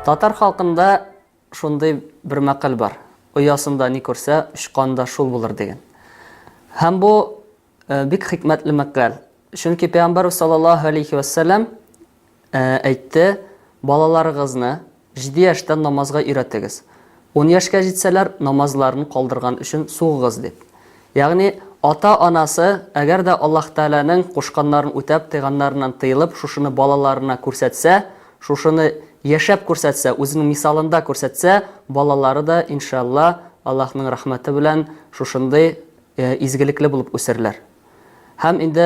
Татар халкында шундый бер мәкаль бар. Оясында ни күрсә, очканда шул булыр дигән. Һәм бу э, бик хикмәтле мәкаль. Чөнки пәйгамбәр саллаллаһу алейхи вәссәлам э, әйтте, балаларыгызны Җиде яшьтән намазга өйрәтегез. Ун яшькә җитсәләр, намазларын калдырган өчен сугыгыз, дип. Ягъни, ата-анасы, әгәр дә Аллаһ Тәгаләнең кушканнарын үтәп, тыйганнарыннан тыелып, шушыны балаларына күрсәтсә, шушыны яшәп күрсәтсә, үзенең мисалында күрсәтсә, балалары да, иншаалла, Аллаһның рәхмәте белән шушындый изгелекле булып үсерләр. Һәм инде